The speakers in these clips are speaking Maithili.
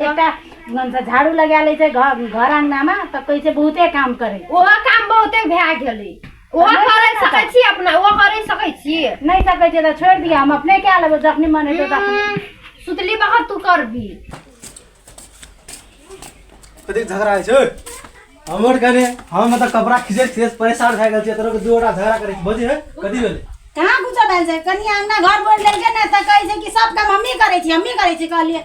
एकटा झाड़ू लगा ले छै घर घर अंगना में तो कैसे बहुते काम करे ओहो काम बहुते भए गेलै ओहो हमरे करै नहि सकै छी अपना ओहो करै सकै छी नहीं सके छै तो छोड़ दिया हम अपने क्या लेबो जखनी मन हेतौ तखनी हम्म, सुतली बखत तू करबी कतेक झगड़ा होइ छै हमर कने हम मतलब कपड़ा खींचे खींचे परेशान भए गेल छियै तोरा दू गोटा झगड़ा करै छी बुझी है कथी भेलै कहाँ कुछो भेल छै कनिया अंगना घर बोल देलकै ने तऽ कहै छै कि सब काम हमही करै छी हमही करै छी कहलियै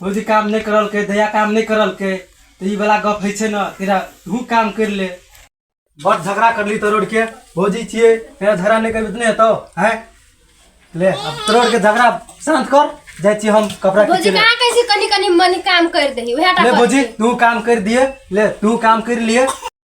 भौजी काम नहि करलकै दया काम नहि करलकै तऽ ई वाला गप होइ छै ने तेरा तू काम करि ले बड़ झगड़ा करली तरोड़ के भौजी छियै तेरा झगड़ा नहि करबी तऽ नहि हेतौ हैं ले अब तरोड़ के झगड़ा शांत कर जाइ छी हम कपड़ा भौजी खींचे ले कहाँ कैसे कनी कनी मन काम कर दही उहे टा ले भौजी तू काम कर दिए ले तू काम कर लिए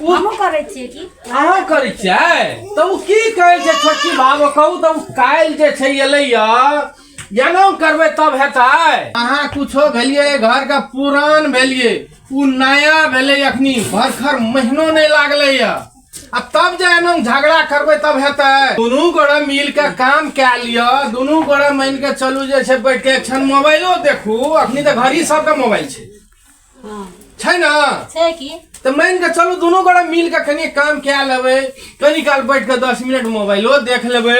हमहूँ करै छियै की अहाँ करै छियै तऽ ओ की कहै छै छोटकी बाबू कहू तऽ ओ काल्हि जे छै एलैया जनम करबै तब हेतै अहाँ कुछो भेलियै घर के पुरान भेलियै ओ नया भेलै अखनी भरखर महीनो नहि लागलैया आ तब जे एना झगड़ा करबै तब हेतै दुनू गोरे मिल के काम कए लिअ दुनू गोरे मानि के चलू जे छै बैठ के एक क्षण मोबाइलो देखू अखनी तऽ घड़ी सबके मोबाइल छै हाँ छै ना छै की तऽ मान के चलू दुनू गोरा मिल के कनी काम कए लेबै कनी काल बैठ के दस मिनट मोबाइलो देख लेबै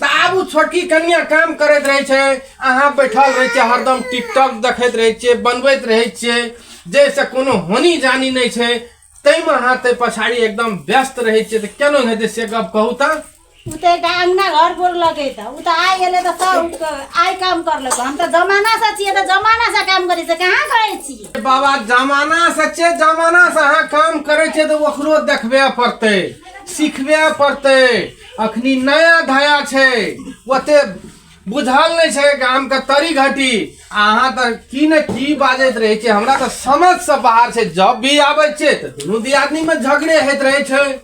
तऽ आब उ छोटकी कनिया काम करैत रहै छै अहाँ बैठल रहै छियै हरदम टिकटॉक देखैत रहै छियै बनबैत रहै छियै जाहिसँ कोनो होनी जानी नहि छै ताहिमे अहाँ ताहि पछाड़ी एकदम व्यस्त रहै छियै तऽ केना हेतै से गप कहू तऽ उ तऽ एकटा अङ्गना घर गोर लगे तऽ उ तऽ आइ एलै तऽ सब आइ काम कर लेबै हम तऽ जमाना से छियै तऽ जमाना से काम करै छै कहाँ करै छियै बाबा जमाना से छै जमाना से अहाँ काम करै छियै तऽ ओकरो देखबे पड़तै सिखबे पड़तै अखनी नया धया छै ओते बुझल नहि छै गामके तरी घटी आ अहाँ तऽ की ने की बाजैत रहै छियै हमरा तऽ समझसँ बाहर छै जब भी आबै छियै तऽ दुनू दियादनीमे झगड़े होइत रहै छै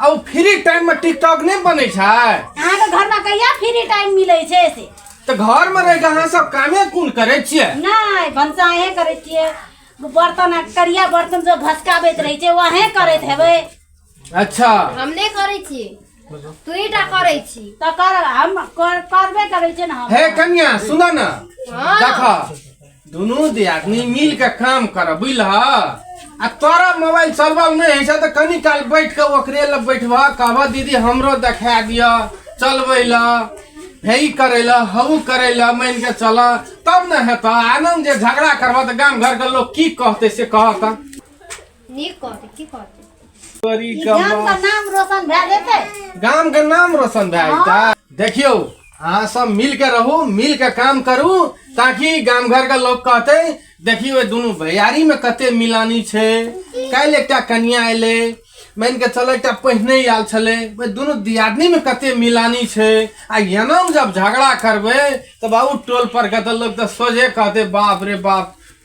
आ ओ फ्री टाइम में टिकटॉक नहीं बने छै अहाँ के घर में कहिया फ्री टाइम मिले छै से तो घर में रह के अहाँ सब कामे कुन करे छिए नहीं भनसा अहे करे छिए बर्तन करिया बर्तन जो घसकाबैत रहे छै वहे करैत हेबै अच्छा हम नहीं करे छी तू ही टा करे छी तो कर हम करबे करे छै ना हे कन्या सुना ना हाँ। देखा दुनू दियादनी मिल के काम कर बुझलह आ तोरा मोबाइल चलबल नहीं है छै तऽ कनी काल बैठ के ओकरे लग बैठबह कहबह दीदी हमरो देखा दिअ चलबै ल हे ई करै ल हऊ करै ल मान के चल तब ने हेतह आनन्द जे झगड़ा करबह तऽ गाम घर के लोग की कहते से कहत नीक कहते की कहते तोरी ई गाम का कमा नाम रोशन भए जेतै गाम के नाम रोशन भए जेतै देखियो अहाँ सब मिल के रहू मिल के काम करू ताकि गाम घर के लोग कहते देखियो दुनू भैयारी में कते मिलानी छै काल्हि एकटा कनिया एले मान के चल एकटा पहिने आयल छलै ओहि दुनू दियादनी में कते मिलानी छै आ एना जब झगड़ा करबै तऽ बाबू टोल पर के तऽ लोग तऽ सोझे कहते बाप रे बाप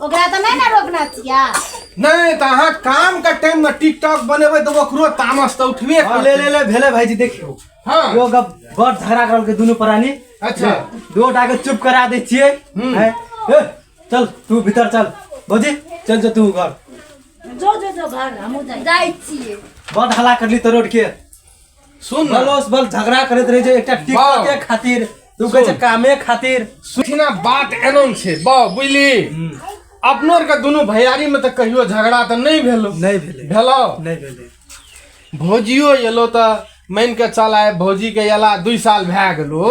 ओकरा तऽ नहि ने रोकना छियै नहीं तो अहाँ काम का टाइम में टिकटॉक बनेबे तो ओकरो तामस तो उठबे हाँ, करते। ले ले ले भेले भाईजी देखियो हाँ। यो गप बड़ झगड़ा करल के दुनू प्राणी अच्छा। दो टाके चुप करा दे छिए हम्म। हैं? ए, चल तू भीतर चल भौजी चल जो तू घर जो जो जो घर हमहूँ जाइ जाइ छियै बड़ हला करली तो रोड के सुन ना बलोस बल झगड़ा करत रहे छै एकटा टिकट के खातिर तू कहै छै सुन। कामे खातिर सुखिना बात एनम छै बा बुझली अपनो आरके दुनू भैयारी में तऽ कहियो झगड़ा तऽ नहि भेलो नहि भेलै भेलो नहि भेलै भौजियो एलो तऽ मानि कऽ चल आय भौजीके एला दुइ साल भए गेलो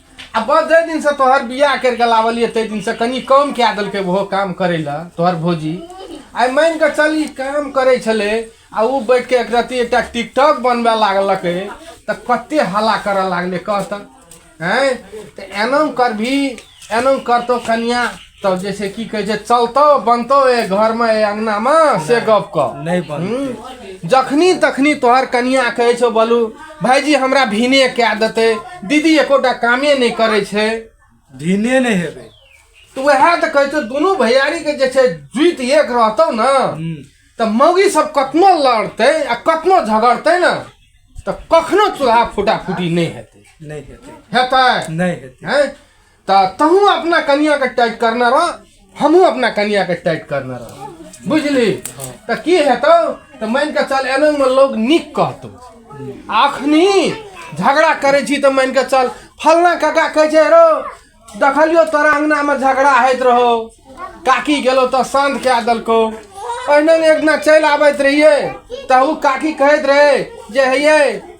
आ बस जाहि दिन से तोहर बियाह कर के लावलिए ताहि दिन से कनी कम कए देलकै ओहो काम करे ला तोहर भौजी आइ मान के चल ई काम करे छले आ ओ बैठ के एक रति एकटा टिकटॉक बनबे लागलकै तऽ कते हल्ला करऽ लागलै कह तऽ हैं तऽ एना करभी एना करतो कनिया तब जे छै की कहै छै चलतौ बनतौ ए घरमे ए अङ्गनामे से गप कह नहि बन हूँ। जखनी तखनी तोहर कनिया कहै छौ बोलू भाईजी हमरा भीने कए देतै दीदी एकोटा कामे नहि करै छै भिने नहि हेबै तऽ उएह तऽ कहै छौ दुनू भैयारीके जे छै जुति एक रहतौ ने हूँ। तऽ मौगी सब कतनो लड़तै आ कतनो झगड़तै ने तऽ कखनो चूल्हा फूटा फूटी नहि हेतै नहि हेतै हेतै नहि हेतै हैं तऽ तहूँ अपना कनियाँके टाइट करने रह हमहूँ अपना कनियाँके टाइट करने रह बुझली तऽ की हेतौ तऽ मानि कऽ चल एनामे लोक नीक कहतौ आ अखनी झगड़ा करै छी तऽ मानि कऽ चल फल्लाँ काका कहै छै रौ देखलियौ तोरा अङ्गनामे झगड़ा होइत रहौ काकी गेलौ तऽ शान्त कए देलकौ ओहिना एक दिना चलि आबैत रहियै तऽ ओ काकी कहैत रहै जे हे यै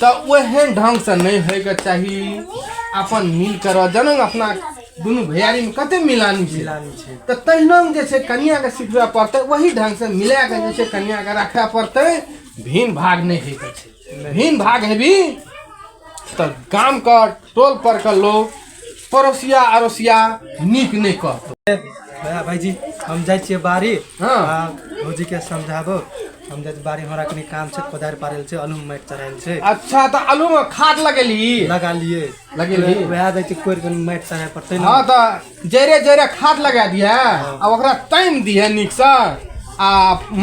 तऽ ओहन ढङ्गसँ नहि होइके चाही अपन मिल कर जनम अपना दुनू भैयारीमे कते मिलानी छै मिलानी छै तऽ तहिना जे छै कनियाके सिखबय पड़तै ओही ढङ्गसँ मिलाके जे छै कनियाके राखय पड़तै भिन्न भाग नहि होइके छै भिन्न भाग हेबी तऽ गामके टोल परके लोक पड़ोसिया अड़ोसिया नीक नहि कहतो भैया भाईजी हम जाइ छियै बाड़ी हाँ। आ भौजीके समझाबो हम जाइ छी बाड़ी हमरा कनि काम छै कोदारि पारल छै अलू माटि चढ़ायल छै अच्छा तऽ आलू मे खाद लगेली लगा लिए लगेली? वएह जाइ छी कोरि कनि माटि चढ़ाय पड़तै ने हाँ तऽ जरे जरे खाद लगा दिए आ ओकरा तानि दिए नीकसँ आ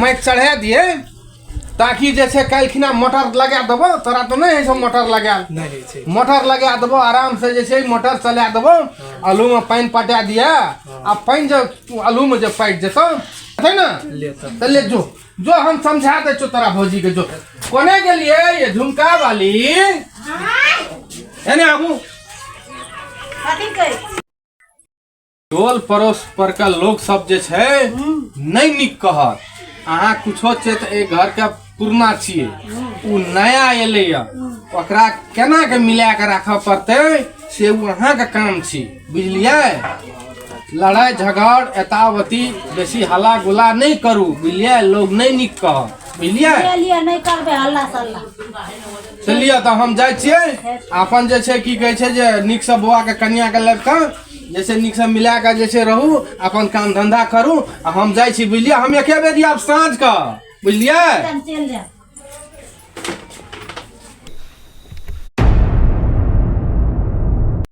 माटि चढ़ा दिए ताकि जे छै काल्हिखिना मोटर लगा देबौ तोरा तऽ नहि होइ छौ मोटर लगायल नहि होइ छै मोटर लगा देबौ आरामसँ जे छै मोटर चला देबौ आलूमे पानि पटा दिअ आ पानि जे आलूमे जे पाटि जेतौ छै ने तऽ ले जो जो हम समझा दै छौ तोरा भौजीके जो कोने गेलियै ये झुमका वाली एने आबू कथी कहै टोल पड़ोस पर के लोग सब जे छै नहि नीक कहत अहाँ कुछो छै तऽ एहि घर के पुरना छियै ओ नया एलै या ओकरा केना के मिला के राखऽ पड़तै से ओ अहाँके काम छी बुझलियै लड़ाई झगड़ एतावती बेसी हल्ला गुला नहि करू बुझलियै लोग नहि नीक कहत बुझलियै ले लिए नहीं करबे हल्ला सल्ला चलिए तऽ हम जाइ छियै अपन जे छै की कहै छै जे नीकसँ बौआके कनियाके लड़का जे छै नीकसँ मिला कऽ जे छै रहू अपन काम धन्धा करू आ हम जाइ छी बुझलियै हम एके बेर आब साँझके बुझलियै हम चलि जायब